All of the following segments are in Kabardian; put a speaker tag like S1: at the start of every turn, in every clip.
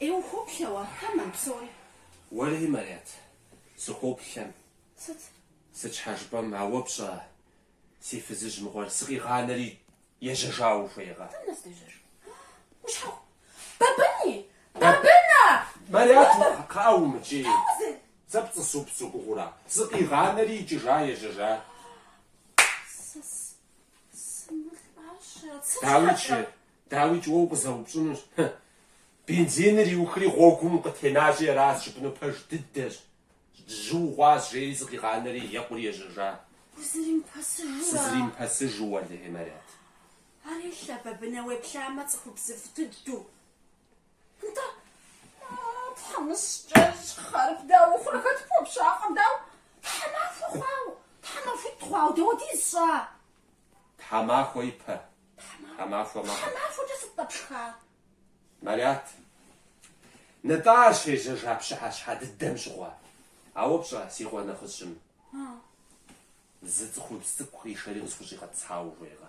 S1: Е ухуоплъэ уэ, тэмэм, псори?
S2: Уэри, Марят, сыхуоплъэм.
S1: Сыт? Сыт
S2: щхьэ жыпӏэм, ауэ пщӏэ, си фызыжь мыгъуэр сыкъигъанэри ежьэжауэ ухуейкъэ? Дэнэ
S1: здежьэжар? Ущхьэху. Бабыни! Бабынэ! Марят,
S2: кхъыӏэ, умыкӏий. Щхьэхуэзэ! Сэ пцӏы супсу уи гугъэу ара? Сыкъигъанэри икӏыжа, ежьэжа? Сэ сымылӏащэрэт. Сыт дауикӏ, щхьэкӏэ? Дауикӏ уэ укъызэупщӏынущ, хы, бензиныр иухри гъуэгум укъытенащи, ара жыпӏэну пэж дыдэщ, жьы ухъуащ, жери сыкъигъанэри екъури ежьэжа. Узыримыпэсыжурэ? Сызыримыпэсыжу, уэлэхьи, Марят.
S1: Арщхьэ Бабынэ уеплъамэ цӏыхубзыфӏ дыдэу. Нтӏэ, тхьэмыщкӏэ щхъэр дауэ хъурэ хэт пхуэпщакъым, дауэ, тхьэмахуэ хъуауэ, тхьэмахуитӏ хъуауэ дауэ дисщӏа?
S2: Тхьэмахуэ ипэ. Тхьэмахуэ макъ.
S1: Тхьэмахуэкӏэ сыт къэпшха?
S2: Марят. Нытӏэ ар щежьэжа пщыхьэщхьэ дыдэм щыгъуэ. Ауэ пщӏэ, си къуэ нэхъыщӏым. Зы цӏыхубз цӏыкӏу къишэри къысхущӏигъэтӏысхьауэ ухуейкъэ.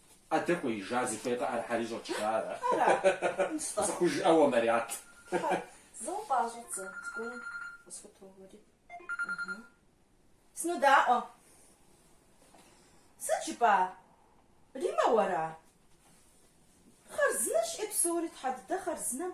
S2: Адэ кӏуеижа зыхуей къыӏэрыхьэри щӏэкӏа ара? Ара? Нтӏэ. Схужыӏэ уэ, Марят. Хьэ, зы
S1: уфӏащӏэ дзэ, зыгуэр къысхутоуэри. Ыхьы. Сынодаӏуэ. Сыт жыпӏа? Риммэ уэра? Хъарзынэщ е псори, тхьэ дыдэ хъарзынэм.